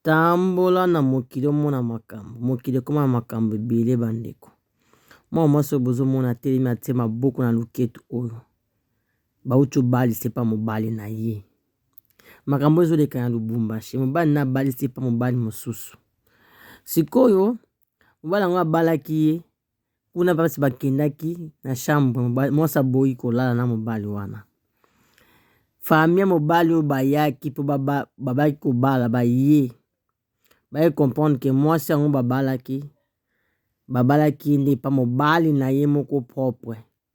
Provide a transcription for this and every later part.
Tambola na mokili omona makambo. Mokili ekoma na makambo ebele ba ndeko. Mwana mwasi oyo bozo mona atelemi atie maboko na loketu oyo ba wuti ko balisa epa mobali na ye. Makambo oyo ezo leka na Lubumbashi, mobali naye abalisi epa mobali mosusu. Sikoyo Mobali yango abalaki ye kuna basi bakendaki na chambre mwasi aboyi kolala na mobali wana famille mobali oyo bayaki mpo babaki kobala baye baye comprendre ke mwasi yango babalaki babalaki ye nde epa mobali na ye moko propre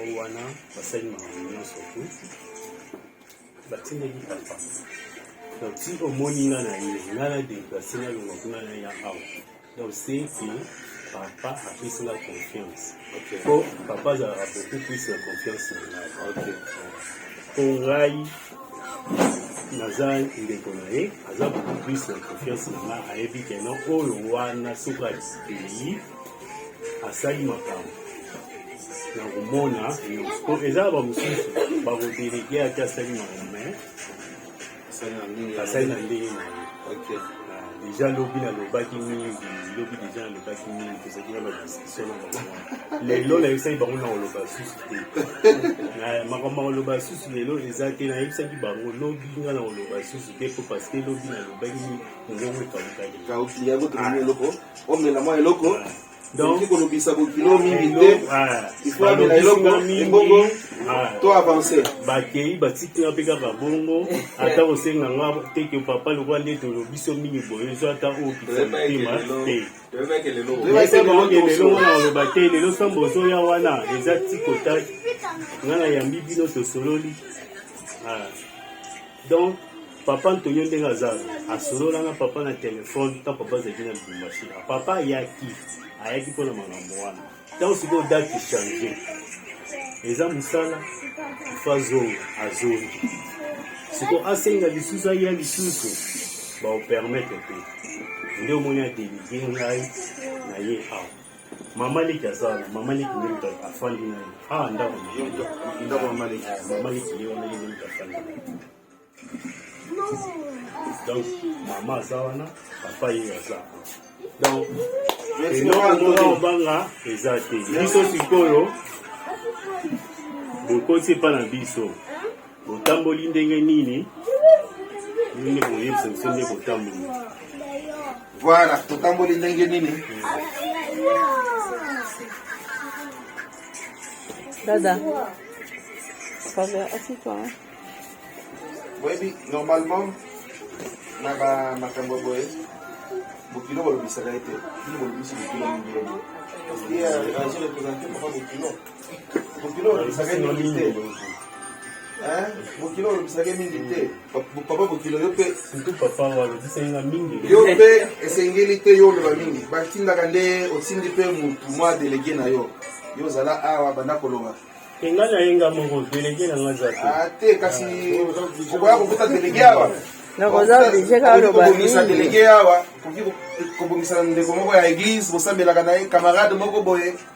oyo wana basali makambo nyonso tu batindaki papa donc ti omoni nga na ye nga na deplase na longa kuna na ya awa donc c'est que papa apesi nga confiance po papa azalaka beaucoup plus na confiance na ngai po ngai naza ndeko na ye aza beaucoup plus na confiance na ngai ayebi keno oyo wana soki ayi asali makambo na komona po eza ba mosusu bakodelege ate asali makambo me asali na ndenge na ye ah, deja lobi nalobaki mingi lobi deja nalobaki mingi tozalaki na badiskusio na bango lelo nayebisaki bango na koloba susu te makambo ya koloba susu lelo eza te nayebisaki bango lobi nga na koloba susu te po parce que lobi nalobaki mingi mongongo ekabukaki omela mwa eloko donc kolobisa bokilo mingi te ifo amela eloko ebongo to avance bakei batiki nga mpe kaka bongo ata kosenga nga teke papa lokola nde tolobiso mingi boye ezo ata oyo kisa motema te elongo na oloba te lelo sambo ozoya wana eza tikotaki nga nayambi bino tosololi ah. donc papa antonio ndenge aza asolola na papa na telefone ntango papa azalaki na lubumbashi papa ayaki ayaki mpo na makambo wana ntango sikoyo date echange eza mosala ifa azonga azongi sikoyo asenga lisusu aya lisusu baopermete te nde omoni adelivie ngai na ye awa Mama leki aza na mama leki nde moto afandi na ye awa ah, ndako ndako mama leki mama leki nde wana ye nde moto afandi na ye donc mama aza wana papa ye aza donc enoomoa obanga eza te biso sikoyo bokoti epa na biso Otamboli ndenge nini? Nini boyebisa biso nde kotamboli? Voilà, totamboli ndenge nini? Dada. Fabien, assieds-toi. Hein. Oui, normalement, na ba makambo boye bokilo bolobisaka ye te bino bolobisi bokilo mingi ye azo represente papa bokilo bokilo olobisaka mingi te papa bokilo yo mpe yo mpe esengeli te yo oloba mingi batindaka nde otindi mpe motu mwa delege na yo yo ozala awa banda koloba enga na ye nga moko delege na nga za te ah, kasi ah, okoya kokuta delege awa nakozabisa delege awa kobongisa ndeko moko ya eglise bosambelaka na ye camarade moko boye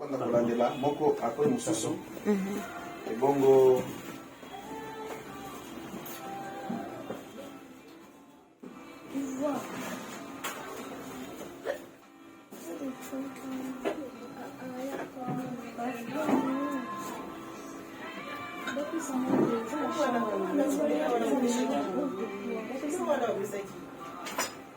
Banda kolandela moko apres mosusu mhm. ebongo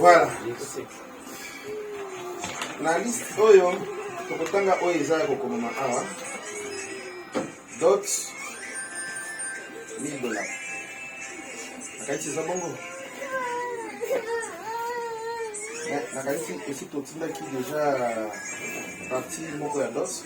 Voilà. Na liste oyo tokotanga oyo eza ya kokomama awa dot 1000 dollars nakanisi eza bongo nakanisi esi totindaki deja parti moko ya dot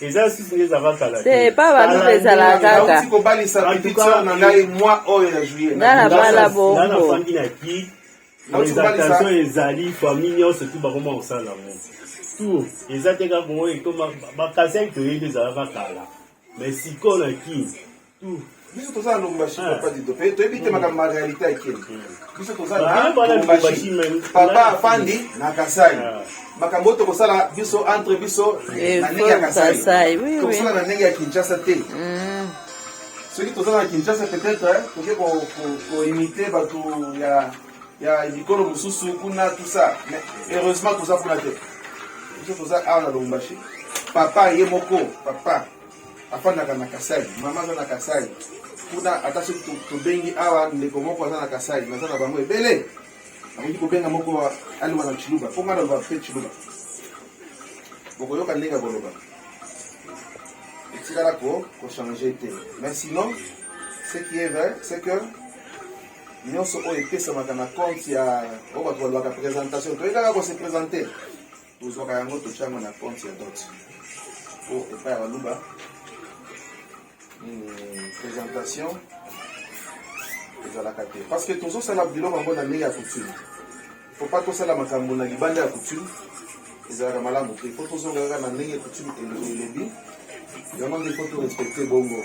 eza susu nde ezalaka kala te te epa baluba ezalaka kaka nauti kobalisa En tout petite cas, sœur na ngai mwa oyo ya juillet Nga na bala Nga bongo. nafandi na ki Nauti kobalisa- exaltation ezali famille nyonso tu bakoma kosala yango tour eza te kaka oyo ekoma bakasai toyebi ezalaka kala mais sikoyo na kin biso toza na lombashi ah. papa dido mpe toyebi te makambo ma réalité ekeli biso toza na lombashi papa afandi na kasai ah. makambo oyo tokosala biso entre biso eh, na ndenge ya kasai tokosala na ndenge ya kinshasa te mm. soki toza na kinshasa peut-être eh, toke koimite bato ya ya bikolo mosusu kuna tout ça mais heureusement toza kuna te biso toza awa na lombashi papa ye moko papa afandaka na kasai mama aza na kasai kuna ata soki tobengi awa ndeko moko aza na kasai naza na bango ebele akoki kobenga moko aloba na chiluba mpo ngai naloba mpe chiluba bokoyoka ndenge ya koloba etikala ko kochange te mais sinon ce qui est vrai c'est que nyonso oyo epesamaka na compte ya oyo bato balobaka présentation toyekaka kose présente tozwaka yango totya yango na compte ya dot po epai ya baluba hmm, présentation ezalaka te parce que tozosala biloko yango na ndenge ya coutume faut pas tosala makambo na libanda ya coutume ezalaka malamu te po tozonga kaka na ndenge coutume elobi yango nde po torespecte bongo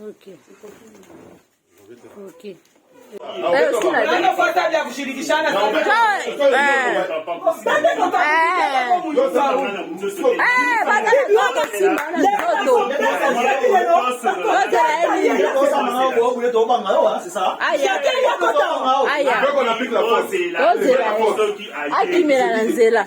Okay. Okay. akimela na nzela